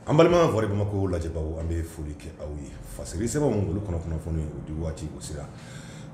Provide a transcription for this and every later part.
an balima vɔri bamakɔ lajɛbaw an bɛ foli kɛ aw ye fasiri sɛbɛn minnu olu kɔnɔ kunnafoni o di waati o sera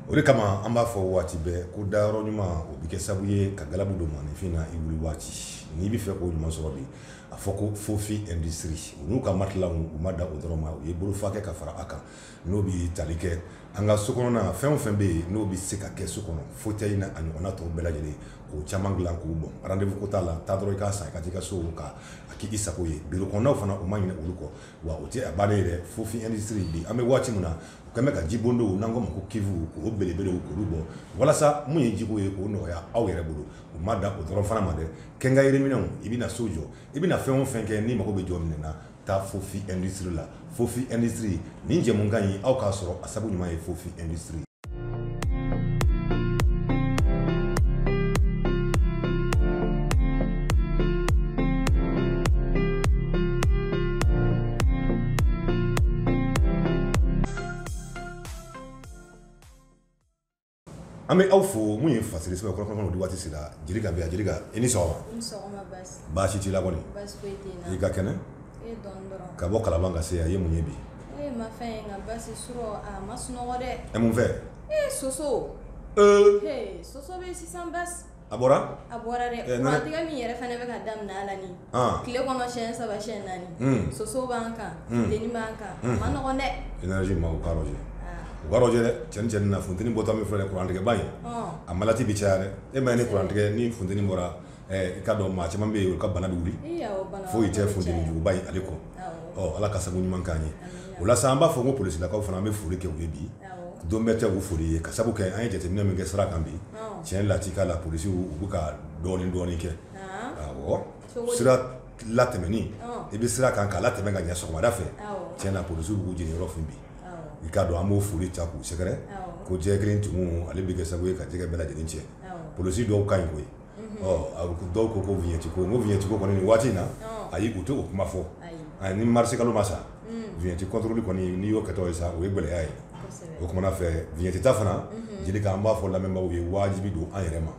o de kama an b'a fɔ waati bɛɛ ko dayɔrɔ ɲuman o bɛ kɛ sabu ye ka galabu don maaninfin na i wuli waati n'i bɛ fɛ k'o ɲuman sɔrɔ bi a fɔ ko fofi industrie u n'u ka matila u ma dan o dɔrɔn ma u ye bolofa kɛ ka fara a kan n'o bi tali kɛ an ka so kɔnɔna fɛn o fɛn bɛ yen n'o bɛ se ka kɛ so kɔnɔ fauteuil na a ɲɔgɔnna tɔw bɛɛ lajɛlen k'o caman dilan ko bon rendez-vous ko t'a la taa dɔrɔn i k'a san i ka t'i ka so ka a k'i sago ye biro kɔnɔnaw fana u ma ɲinɛ olu kɔ wa o tɛ a bannen ye dɛ fofi industrie bi an bɛ waati min na u kɛn bɛ ka jibondow n'an k'o ma ko cuve k'o belebelew k'olu bɔ walasa mun ye jiko ye k'o nɔgɔya aw yɛrɛ bolo u ma dan o dɔrɔn fana ma dɛ quincaillerie minɛnw i bɛna na so jɔ i bɛna na fɛn o fɛn kɛ n'i mago bɛ jɔ min na taa fofi industrie la fofi industrie ni jɛ min ka ɲi aw k'a sɔrɔ a sabu ɲuman ye fofi industrie an bɛ aw fo mun ye fasiri sɛbɛn kɔnɔ kunnafoni di waati sera jelika jelika i ni sɔgɔma baasi t'i la kɔni i ka kɛnɛ ka bɔ kalaban ka se a ye mun ye bi fɛ soso A bɔra a bɔra dɛ tigɛ min yɛrɛ fana bɛ ka daminɛ a la ni tile kɔnɔ siyɛn saba siyɛn naani soso b'an kan den b'an kan ma nɔgɔ dɛ cɛn na funteni bɔta min fɛ kurantigɛba ye a maladi bɛ caya e ma ni kurantigɛ ni funteni bɔra i k'a dɔn maa caman bɛ yen u ka bana wuli foyi tɛ funtenijuguba ye ale kɔ ɔ ala ka sabu ɲuman k'an ye o la an b'a fɔ ko polisilakaw fana an bɛ foli kɛ u ye bi don bɛɛ tɛ u foli ye ka sabu kɛ an ye jateminɛ min kɛ sira kan bi cɛn lakika la polisiw u bɛ ka dɔɔnin dɔɔnin kɛ aw sira latɛmɛni i bɛ sira kan k'a latɛmɛ ka ɲɛ sɔgɔmada fɛ cɛn na polisiw b'u jeniyɔrɔ fin bi i k'a dɔn an b'o foli ta k'u sɛgɛrɛ ko jɛgɛ kelen tumu ale bɛ kɛ sababu ye ka jɛgɛ bɛɛ lajɛlen cɛn polisi dɔw ka ɲi koyi a dɔw ko ko viɲɛti ko o viɲɛti ko kɔni waati in na ayi u tɛ o kuma fɔ a ni marisi kalo ma sa viɲɛti kɔntɔrɔli kɔni n'i y'o kɛtɔ ye sa o ye gɛlɛya ye o tuma na fɛ viɲɛti ta fana jelika an b'a fɔ lamɛnbaaw ye wajibi don an yɛrɛ ma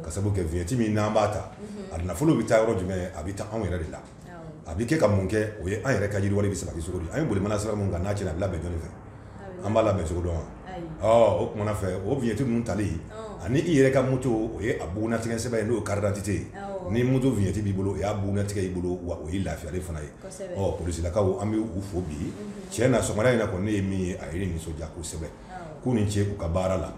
ka sabu kɛ viɲɛti min n'an b'a ta a nafolo bɛ taa yɔrɔ jumɛn a bɛ taa anw yɛrɛ de la A bɛ kɛ ka mun kɛ o ye an yɛrɛ ka yiriwali bɛ sabati cogo an ye boli mana sira min kan n'a tiɲɛna a bɛ labɛn jɔn fɛ an b'a labɛn cogo dɔn o tuma na fɛ o vignette ninnu tali ani i yɛrɛ ka moto o ye a bugunnatigɛ sɛbɛn ye n'o carte d'identité ye ni moto vignette b'i bolo o y'a bugunnatigɛ y'i bolo wa o ye lafiyali fana ye ɔ polisilakaw an bɛ u fo bi tiɲɛ na sɔgɔma in na kɔni ne ye min ye a ye n nisɔndiya kosɛbɛ k'u ni ce u ka baara la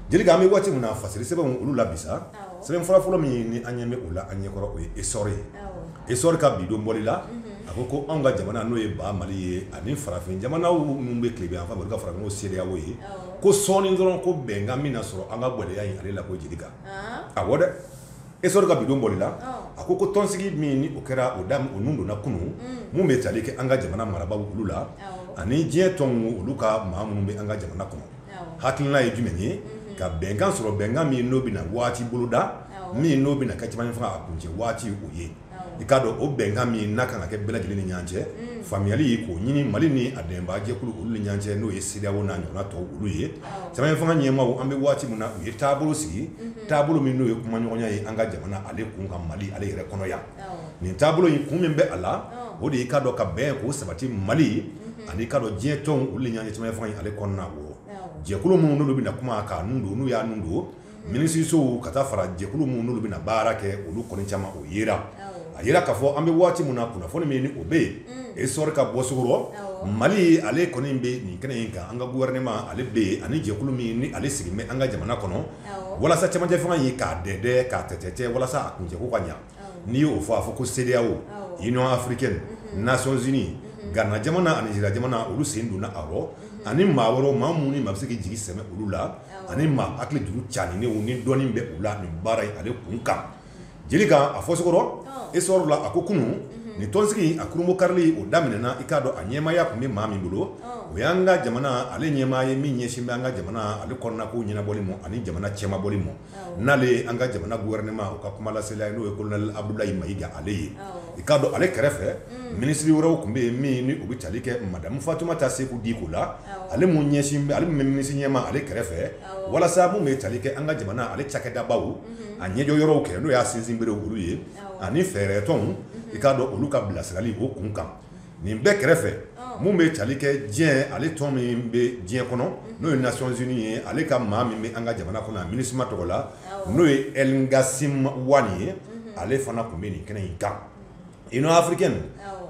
Jelika an bɛ waati min na fasiri sɛbɛn olu la bi sa sɛbɛn fɔlɔ fɔlɔ min ni an ɲɛ bɛ o la an ɲɛkɔrɔ o ye esɔri ye esɔri ka bi don bɔli la a ko ko anw ka jamana n'o ye ba mali ye ani farafin jamana minnu bɛ tilebin fan ka fara n'o CEDEAO ye ko sɔɔni dɔrɔn ko bɛnkan bɛna sɔrɔ an ka gɛlɛya ale la ko Jelika a ko dɛ esɔri ka bi don bɔli la a ko ko tɔnsigi min n'o kɛra o da o nun donna kunun minnu bɛ tali kɛ an ka jamana marabagaw olu la ani diɲɛ tɔn olu ka maa minnu bɛ an ka jamana kɔnɔ hakilila ye jumɛn ye ka bɛnkan sɔrɔ bɛnkan min n'o bɛna waati boloda min n'o bɛna kɛ cɛmancɛ fanga kuncɛ waati o ye i k'a dɔn o bɛnkan min n'a kan ka kɛ bɛɛ lajɛlen ni ɲɔgɔn cɛ faamuyali y' k'o ɲini mali ni a dɛmɛbajɛkulu olu ni ɲɔgɔn cɛ n'o ye CEDEAO n'a ɲɔgɔnna tɔw olu ye cɛmancɛ fanga ɲɛmaaw an bɛ waati min na u ye taabolo sigi taabolo min n'o ye kumaɲɔgɔnya ye an ka jamana ale kun kan mali ale yɛrɛ kɔnɔ yan nin taabolo in kun min bɛ a la o de ye i k'a dɔn ka bɛn ko sabati mali ani i k'a dɔn diɲɛ tɔnw olu ni ɲɔgɔn cɛ cɛmancɛ fanga ale kɔnɔna jɛkulu minnu bɛna kuma k'a nun don n'u y'a nun don minisirisow ka taa fara jɛkulu minnu bɛna baara kɛ olu kɔni caman o yera a y'a yira k'a fɔ an bɛ waati min na kunnafoni min n'o bɛ yen esɔri ka bɔcogo rɔ mali ale kɔni bɛ nin kɛnɛ in kan an ka gouvernement ale bɛ yen ani jɛkulu min ni ale sigilen bɛ an ka jamana kɔnɔ walasa cɛmancɛ fanga in k'a dɛdɛ k'a tɛtɛ walasa a kuncɛko ka ɲɛ n'i y'o fɔ a fɔ ko CEDEAO Union africaine Nations unies gana jamana ani Nigeria jamana olu sen donna a rɔ ani maa wɛrɛw maa minnu ni maa bɛ se k'i jigi sɛmɛ olu la ani maa hakili dugu caani ni dɔnni bɛ u la nin baara in ale kunkan Jelika a fɔcogo rɔ esɔri la a ko kunun nin tɔnsigi a kurunbonkarili o daminɛna i k'a dɔn a ɲɛmaya tun bɛ maa min bolo o y'an ka jamana ale ɲɛmaa ye min ɲɛsin bɛ an ka jamana ale kɔnɔna ko ɲɛnabɔli ma ani jamana cɛmabɔli ma n'ale ye an ka jamana gouvernement o ka kumalasela ye n'o ye colonel Abudulayi Mayiga ale ye i k'a dɔn ale kɛrɛfɛ minisiri wɛrɛw tun bɛ yen min n'o bɛ tali kɛ madame Fatumata Seku Diko la ale min ɲɛsin bɛ ale min bɛ minisiri ɲɛmaa ale kɛrɛfɛ walasa min bɛ tali kɛ an ka jamana ale cakɛdabaw a ɲɛjɔ yɔrɔw kɛ n'o y'a sinsinbere olu ye ani fɛɛrɛ tɔnw i k'a dɔn olu ka bilasirali o kun kan nin bɛɛ kɛrɛfɛ min bɛ tali kɛ diɲɛ ale tɔn min bɛ diɲɛ kɔnɔ n'o ye Nations unies ye ale ka maa min bɛ an ka jamana kɔnɔ a MINUSMA tɔgɔ la n'o ye El Ghassim Wane ye ale fana tun bɛ nin kɛnɛ in kan Union africaine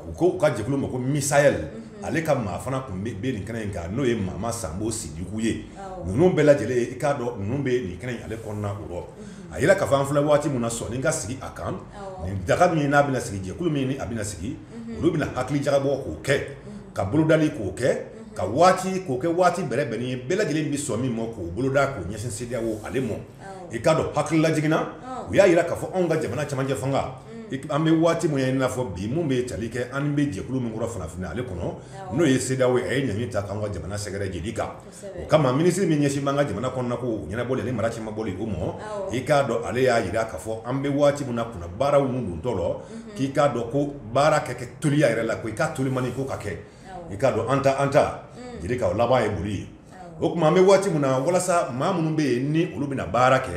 u ko u ka jɛkulu ma ko MISAHEL ale ka maa fana tun bɛ nin kɛnɛ in kan n'o ye mama sanbo sidiku ye ninnu bɛɛ lajɛ lajɛlen i k'a dɔn ninnu bɛ nin kɛnɛ ale kɔnɔna o rɔ a y'a jira k'a fɔ an filɛ waati min na sɔnni ka sigi a kan nin daga min n'a bɛna sigi jɛkulu min a bɛna sigi olu bɛna hakili jagabɔ k'o kɛ ka bolodali k'o kɛ ka waati k'o kɛ waati bɛrɛbɛnnen ye bɛɛ lajɛlen bɛ sɔn min ma k'o boloda k'o ɲɛsin CEDEAO ale ma i k'a dɔn hakili lajiginna u y'a jira k'a fɔ anw ka jamana cɛmancɛ fanga an bɛ waati min ye i n'a fɔ bi min bɛ tali kɛ an bɛ jɛkulu min kɔrɔ farafinna ale kɔnɔ n'o ye CEDEAO ye a ye ɲangi ta k'an ka jamana sɛgɛrɛ jeli kan o kama minisiri min ɲɛsin b'an ka jamana kɔnɔna ko ɲɛnabɔli ani mara cɛmabɔli o ma i k'a dɔn ale y'a jira k'a fɔ an bɛ waati min na kunna baara ninnu dontɔ la k'i k'a dɔn ko baara kɛ kɛ toliya yɛrɛ la ko i ka toliman ko ka kɛ i k'a dɔn an ta an ta jeli ka o laban ye boli ye o tuma an bɛ waati min na walasa maa minnu bɛ yen ni olu bɛna baara kɛ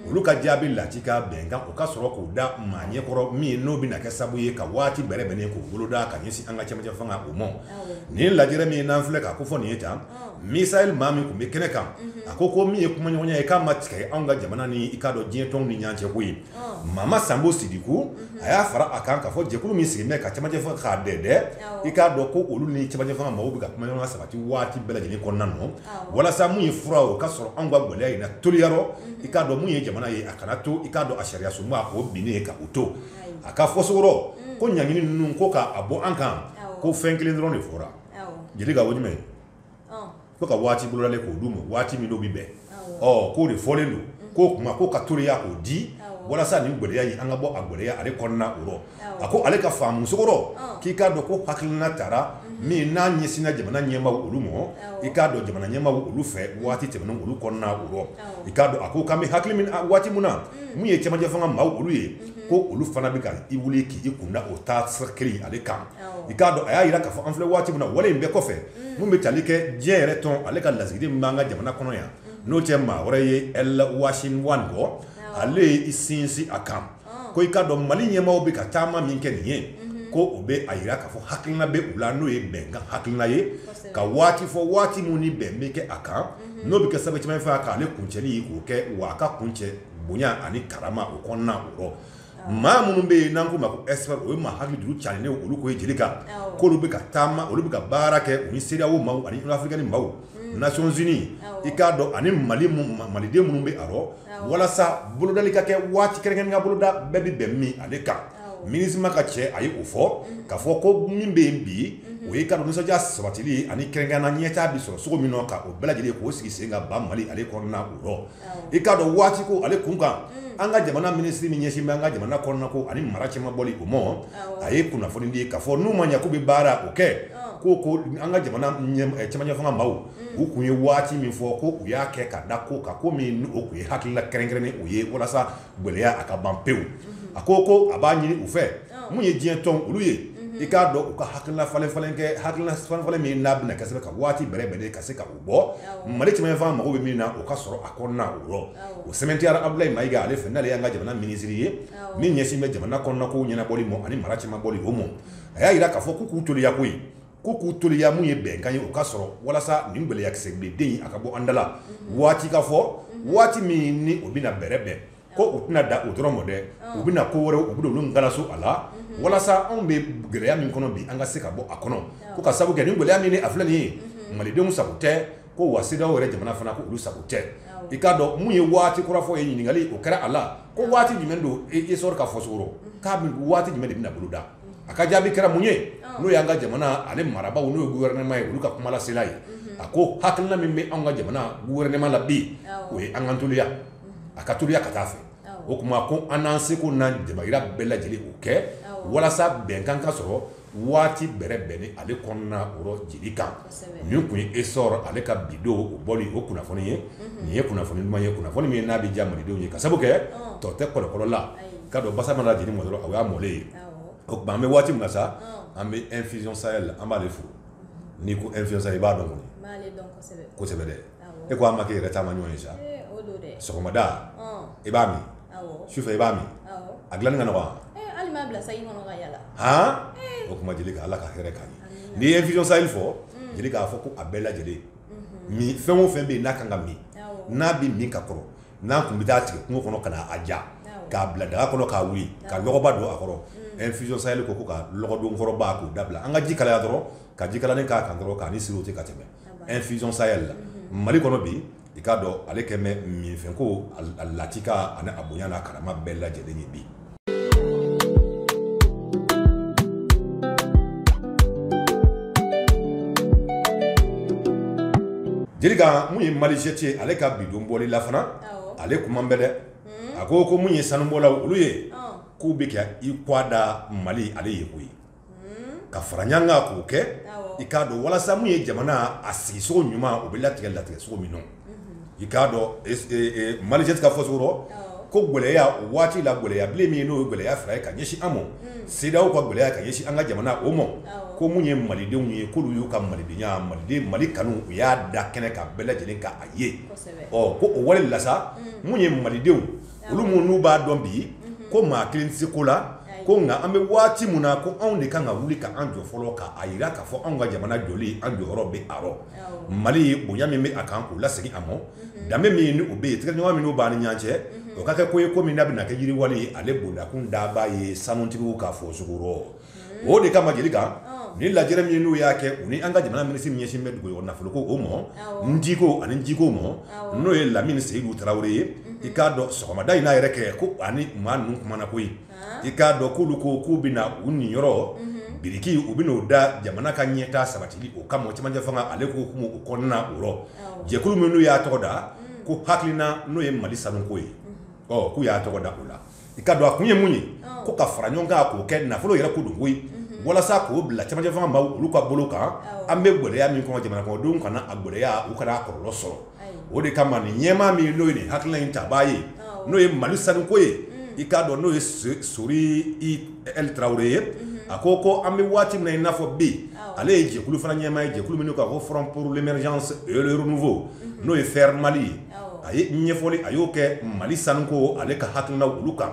olu ka jaabi lati ka bɛnkan o ka sɔrɔ k'o da maa ɲɛkɔrɔ min n'o bɛna kɛ sababu ye ka waati bɛrɛbɛnnen k'o boloda ka ɲɛsin an ka cɛmancɛ fanga o ma nin lajɛrɛ min ye n'an filɛ k'a kofɔ nin ye tan MISAHEL maa min tun bɛ kɛnɛ kan a ko ko min ye kumaɲɔgɔnya ye k'a ma tigɛ an ka jamana ni i k'a dɔn diɲɛ tɔnw ni ɲɔgɔn cɛ ko ye mama sanbo sidiku mhm. a y'a fara a kan k'a fɔ jɛkulu min sigilen bɛ ka cɛmancɛ fanga k'a dɛdɛ i k'a dɔn ko olu ni cɛmancɛ fanga maaw bɛ ka kumaɲɔgɔnya sabati waati bɛɛ lajɛlen kɔnɔna nɔ walasa mun ye fura o ka sɔrɔ anw ka gɛlɛya in na toliya rɔ mhm. i k'a dɔn mun ye jamana ye a kana to i k'a dɔn a sariyasunba k'o binni ye ka u to a ka fɔcogo rɔ mm. ko ɲangini ninnu ko k'a bɔ an kan ko fɛn kelen dɔrɔn de fɔra jeli ka o jumɛn Ko ka waati bolodalen k'o d'u ma, waati min n'o bɛ bɛn, awɔ, ɔ k'o de fɔlen don, unhun, k'o tuma k'o ka toriya k'o di, awɔ, walasa nin gɛlɛya in an ka bɔ a gɛlɛya ale kɔnɔna o rɔ, awɔ, a ko ale ka faamucogo rɔ, ɔn, k'i k'a dɔn ko hakilina tara, unhun, min n'a ɲɛsinna jamana ɲɛmaaw olu ma, awɔ, i k'a dɔn jamana ɲɛmaaw olu fɛ waati tɛmɛnenw olu kɔnɔna o rɔ, awɔ, i k'a dɔn a ko k'an bɛ hakili min na waati min na, un, min ye cɛmancɛfanga maaw olu ye, unhun, ko olu fana bɛ ka i wuli k'i kun da o taasira kelen in ale kan, awɔ, i k'a dɔn a y'a jira k'a fɔ an filɛ waati min na o wale in bɛɛ kɔfɛ Mun bɛ tali kɛ diɲɛ yɛrɛ tɔn ale ka lasigiden min b'an ka jamana kɔnɔ yan n'o tɛ maa wɛrɛ ye El Ghassim Wane kɔ ale ye i sinsin a kan ko i k'a dɔn mali ɲɛmaaw bɛ ka taama min kɛ nin ye ko o bɛ a jira k'a fɔ hakilina bɛ u la n'o ye bɛnkan hakilina ye ka waati fɔ waati min ni bɛn bɛ kɛ a kan n'o bɛ kɛ sababu cɛmancɛ fanga ale kuncɛli k'o kɛ wa a ka kuncɛ bonya ani karama o kɔnɔna o rɔ maa minnu bɛ yen n'an k'u ma ko expert o ye maa hakili juru carilen ye olu ko ye Jeli kan, awɔ, k'olu bɛ ka taama olu bɛ ka baara kɛ u ni CEDEAO maaw ani Union africaine maaw, un, Nations unies, awɔ, i k'a dɔn ani Maliden minnu bɛ a rɔ, awɔ, walasa bolodali ka kɛ waati kɛrɛnkɛrɛnnen ka boloda bɛɛ bɛ bɛn min ale kan, awɔ, Minusma ka cɛ a ye o fɔ, unhun, k'a fɔ ko min bɛ yen bi, unhun, o ye i k'a dɔn nisɔndiya sabatili ye ani kɛrɛnkɛrɛnnenya la ɲɛtaa bɛ sɔrɔ cogo min na ka o bɛɛ lajɛlen k'o sigi sen kan ba Mali ale kɔnɔna o rɔ i k'a dɔn waati ko ale kun kan an ka jamana minisiri min ɲɛsin bɛ an ka jamana kɔnɔna ko ani mara cɛmabɔli o ma a ye kunnafoni di k'a fɔ n'u ma ɲɛ k'u bɛ baara o kɛ ko ko an ka jamana cɛmancɛ fanga maaw u tun ye waati min fɔ ko u y'a kɛ ka da ko kan ko min o tun ye hakilila kɛrɛnkɛrɛnnen o ye walasa gɛlɛya a ka ban pewu a ko ko a b'a ɲini u fɛ min ye diɲɛ tɔn olu ye i k'a dɔn u ka hakilila falen falen kɛ hakilila falen min n'a bɛna kɛ ka se ka waati bɛrɛbɛn ka se ka mali cɛmancɛ fanga mako bɛ min na o ka sɔrɔ a kɔnɔna o rɔ o sɛmɛntiyara abudulayi mayiga ale fɛ n'ale y'an ka jamana minisiri ye min ɲɛsin bɛ jamana kɔnɔna ko ɲɛnabɔli ma ani mara cɛmabɔli o ma a y'a jira k'a fɔ k'u toliya ko ye k'u toliya min ye bɛnkan ye o ka sɔrɔ walasa nin gɛlɛya kisɛbilen a ka bɔ an da la waati k'a fɔ waati min ni o bɛna bɛrɛbɛn ko u tɛna da o dɔrɔn ma dɛ u bɛna ko wɛrɛ u bɛ olu ngalaso a la walasa anw bɛ gɛlɛya min kɔnɔ bi an ka se ka bɔ a kɔnɔ ko ka sababu kɛ nin gɛlɛya min a filɛ nin ye malidenw sago tɛ ko wa sedeyawo yɛrɛ jamana fana ko olu sago tɛ i k'a dɔn min ye waati kura fɔ ye ɲininkali o kɛra a la ko waati jumɛn don essor ka fɔcogo rɔ k'a waati jumɛn de bɛna boloda a ka jaabi kɛra mun ye n'o y'an ka jamana ale marabaaw n'o ye gofɛrɛnɛman ye olu ka kumalasela ye a ko hakilina min bɛ an ka jamana gofɛrɛnɛman la bi o ye an ka toliya a ka toliya ka taa fɛ o tuma ko an n'an seko n'an damayira bɛɛ lajɛlen o kɛ walasa bɛnkan ka sɔrɔ waati bɛrɛbɛnni ale kɔnɔna o rɔ jeli kan nin tun ye essor ale ka bi don o bɔli o kunnafoni ye nin ye kunnafoni ɲuman ye kunnafoni min n'a bɛ diya malidenw ye ka sabu kɛ tɔ tɛ kɔlɔkɔlɔla ka don basa mana jeni ma dɔrɔn o y'a mɔlen ye o tuma an bɛ waati min na sa an bɛ infusion sahel an b'ale fo n'i ko infusion sahel i b'a dɔn kɔni kosɛbɛ dɛ e ko a ma k'i yɛrɛ taama ɲɔgɔn ye sa sɔgɔmada i b'a min sufɛ i b'a min a dilanni ka nɔgɔ o kuma jeli ala ka hɛrɛ ka ɲɛ n'i ye infusion sahel fo jeli k'a fɔ ko a bɛɛ lajɛlen min fɛn o fɛn bɛ yen n'a kan ka min n'a bɛ min ka kɔrɔ n'a tun bɛ taa tigɛ kungo kɔnɔ ka na a ja k'a bila daga kɔnɔ k'a wuli ka dɔgɔba don a kɔrɔ infusion sahel ko ko ka dɔgɔdonkɔrɔba k'o dabila an ka ji kalaya dɔrɔn ka ji kalanin k'a kan dɔrɔn k'a siri o ten ka tɛmɛ infusion sahel la mali kɔnɔ bi i k'a dɔn ale kɛlen bɛ minfɛn ko a latika ani a bonya n'a karama bɛɛ lajɛlen ye bi jeli kan mun ye malijet ye ale ka bi don bɔli la fana ale kuma bɛ dɛ a ko ko mun ye sanubɔla olu ye k'u bɛ kɛ i k'a da mali ale ye ko ye ka fara ɲɔgɔn kan k'o kɛ i k'a dɔn walasa min ye jamana a sigisogo ɲuman o bɛ latigɛ latigɛsogo min na i k'a dɔn Malijet ka fɔsogo rɔ ko gɛlɛya o waati la gɛlɛya bilen min n'o ye gɛlɛya fila ye ka ɲɛsin an ma CEDEAO ka gɛlɛya ka ɲɛsin an ka jamana o ma ko minnu ye malidenw ye k'olu y'u ka malidenya maliden mali kanu u y'a da kɛnɛ kan bɛɛ lajɛlen ka a ye ɔ ko o wale la sa minnu ye malidenw olu minnu n'u b'a dɔn bi ko maa kelen tɛ se ko la ko nka an bɛ waati min na ko anw de kan ka wuli ka an jɔ fɔlɔ k'a jira k'a fɔ anw ka jamana jɔli an jɔyɔrɔ bɛ a rɔ mali bonya min bɛ a kan k'o lasegin a ma danbe min ni o bɛ yen tɛgɛdiɲɔgɔnma minnu b'a ni ɲɔgɔn cɛ o ka kɛ ko ye ko min n'a bɛna kɛ yiriwali ale bondakun daba ye sanutigiw ka fɔ s o de kama jeli kan ni lajɛrɛ min n'u y'a kɛ u ni an ka jamana minisiri min ɲɛsinnen bɛ dugujukɔrɔ nafolo ko o ma n diko ani jiko ma n'o ye Lamini Seyidu Tarawele ye i k'a dɔn sɔgɔmada in n'a yɛrɛ kɛ ko ani maa ninnu kumana koyi i k'a dɔn k'olu ko k'u bɛna u niyɔrɔ biriki u bɛn'o da jamana ka ɲɛtaa sabatili o kama cɛmancɛ fanga ale ko kun o kɔnɔna o rɔ jɛkulu min n'u y'a tɔgɔ da ko hakilina n'o ye mali sanuko ye ɔ k'u y'a tɔgɔ da o la i k'a dɔn a kun ye mun ye ko ka fara ɲɔgɔn kan k'o kɛ nafolo yɛrɛ ko don koyi walasa k'o bila cɛmancɛ fanga ma olu ka bolo kan an bɛ gɛlɛya min kɔnɔ jamana kɔnɔdenw kana a gɛlɛya u kana a kɔlɔlɔ sɔrɔ o de kama nin ɲɛmaa min n'o ye nin hakilina in tabaa ye n'o ye Mali sanuko ye i k'a dɔn n'o ye Sori IL Tarawele ye a ko ko an bɛ waati min na i n'a fɔ bi ale ye jɛkulu fana ɲɛmaa ye jɛkulu min don ka fɔ ko Front pour l'émergence et le renouveau n'o ye FER Mali ye a ye ɲɛfɔli a y'o kɛ mali sanu ko ale ka hakilina olu kan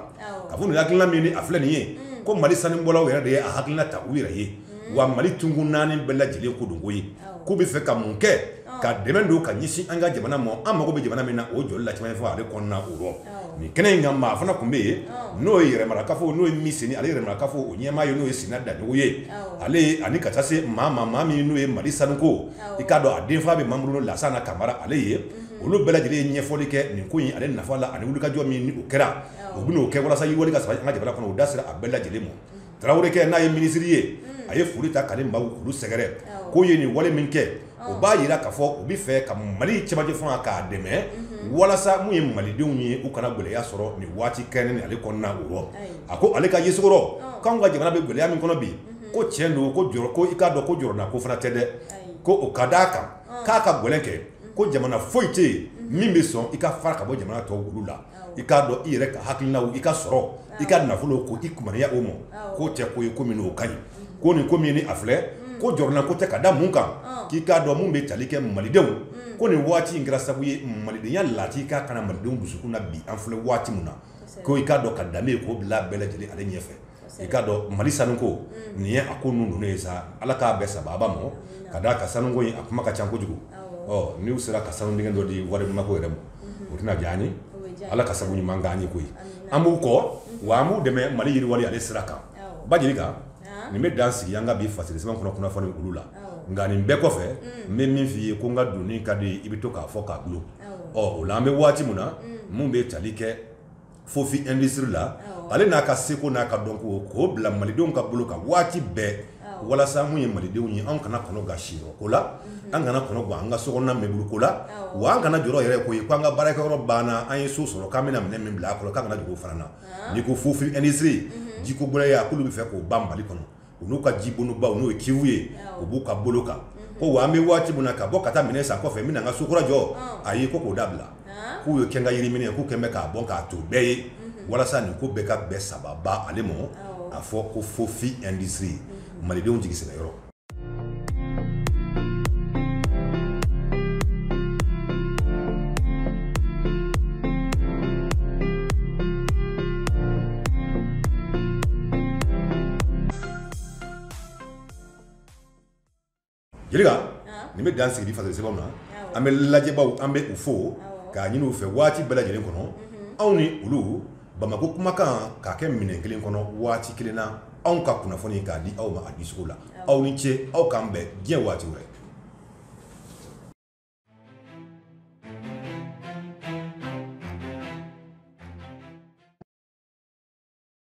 ka fɔ nin hakilina min ni a filɛ nin ye ko mali sanu bɔlaw yɛrɛ de ye a hakilina ta u yɛrɛ ye wa mali tonkun naani bɛɛ lajɛlen ko don koyi k'u bɛ fɛ ka mun kɛ ka dɛmɛ don ka ɲɛsin an ka jamana ma an mago bɛ jamana min na o jɔli la cɛmancɛ fanga ale kɔnɔna o rɔ nin kɛnɛ in kan maa fana tun bɛ yen n'o ye yɛrɛmarakafo n'o ye Miseni ale yɛrɛmarakafo o ɲɛmaa ye n'o ye Sina Daɲɔgɔ ye ale ani ka taa se maa maa maa min n'o ye mali sanuko i k'a dɔn a denfa bɛ Mamuru Lansana Kamara ale ye olu bɛɛ lajɛlen ye ɲɛfɔli kɛ nin ko in ale nafa la ani wulikajɔ min ni o kɛra u bɛn'o kɛ walasa yiriwali ka sabati an ka jamana kɔnɔ u da sera a bɛɛ lajɛlen ma Tarawelekɛ n'a ye minisiri ye a ye foli ta k'ale maaw olu sɛgɛrɛ k'o ye nin wale min kɛ o b'a jira k'a fɔ u bɛ fɛ ka mali cɛmancɛ fanga k'a dɛmɛ walasa minnu ye malidenw ye u kana gɛlɛya sɔrɔ nin waati kɛnɛ ni ale kɔnɔna o rɔ a ko ale ka yesogo rɔ k'anw ka jamana bɛ gɛlɛya min kɔnɔ bi ko tiɲɛ don ko jɔ ko i k'a dɔn ko jɔrɔnako fana tɛ dɛ ko o ka d'a kan k'a ka gɛlɛn kɛ ko jamana foyi tɛ yen min bɛ sɔn i ka fara ka bɔ jamana tɔ olu la i k'a dɔn i yɛrɛ ka hakilinaw i ka sɔrɔ i ka nafolo ko i kunya o ma k'o tɛ ko ye ko min o ka ɲi ko nin ko min ni a filɛ ko jɔrɔnako tɛ ka da mun kan k'i k'a dɔn minnu bɛ tali kɛ malidenw ko nin waati in kɛra sabu ye malidenya laati k'a kana malidenw dusukun na bi an filɛ waati min na ko i k'a dɔn ka danbe k'o bila bɛɛ lajɛlen ale ɲɛfɛ i k'a dɔn mali sanu ko mm. nin ye a ko ninnu ninnu ye sa ala k'a bɛɛ sababa ma ka da a ka sanuko a kuma ka ca kojugu ɔ n'u sera ka sanu dingɛ dɔ di wari mako yɛrɛ ma mm-hmm. o tɛna diya an ye ala ka sabu ɲuman k'an ye koyi an b'u kɔ mm-hmm. wa an b'u dɛmɛ mali yiriwali ale sira kan ba Jelika nin bɛ dan sigi an ka bi fasiri sɛbɛn kɔnɔ kunnafoni olu la nka nin bɛɛ kɔfɛ mm. n bɛ min f'i ye ko n ka doni ka di i bɛ to k'a fɔ k'a bulon ɔ o la an bɛ waati min na mm. mun bɛ tali kɛ fofi industrie la ale n'a ka seko n'a ka dɔnko k'o bila malidenw ka bolo kan waati bɛɛ walasa mun ye malidenw ye an kana kɔnɔ gan siyɔrɔ ko la mhm. an kana kɔnɔ gan an ka sokɔnɔna mɛburu ko la wa an kana jɔrɔ yɛrɛ ko ye ko an ka baarakɛyɔrɔ banna an ye so sɔrɔ k'an bɛna minɛn min bila a kɔnɔ k'an kana jɔrɔ o fana na n'i ko fofi industrie mhm. jiko gɛlɛya k'olu bɛ fɛ k'o ban mali kɔnɔ u n'u ka jibonbaw n'o ye kiwu ye u b'u ka bolo kan ko wa an bɛ waati min na ka bɔ ka taa minɛn san kɔfɛ n bɛna n ka so kura jɔ ayi ko k'o dabila k'u ye kɛkan yiri minɛ k'u kɛlen k'a bɔ k'a to bɛɛ ye walasa nin ko bɛɛ k'a bɛɛ sababa ale ma a fɔ ko fofi industrie malidenw jigi sɛmɛ yɔrɔ Jelika nin bɛ dan sigi fasiri sɛbɛn na an bɛ lajɛbaw an bɛ u fo k'a ɲini u fɛ waati bɛɛ lajɛlen kɔnɔ anw ni olu bamakɔ kumakan k'a kɛ minɛn kelen kɔnɔ waati kelen na anw ka kunnafoni k'a di aw ma a dicogo la aw ni ce aw k'an bɛn diɲɛ waati wɛrɛ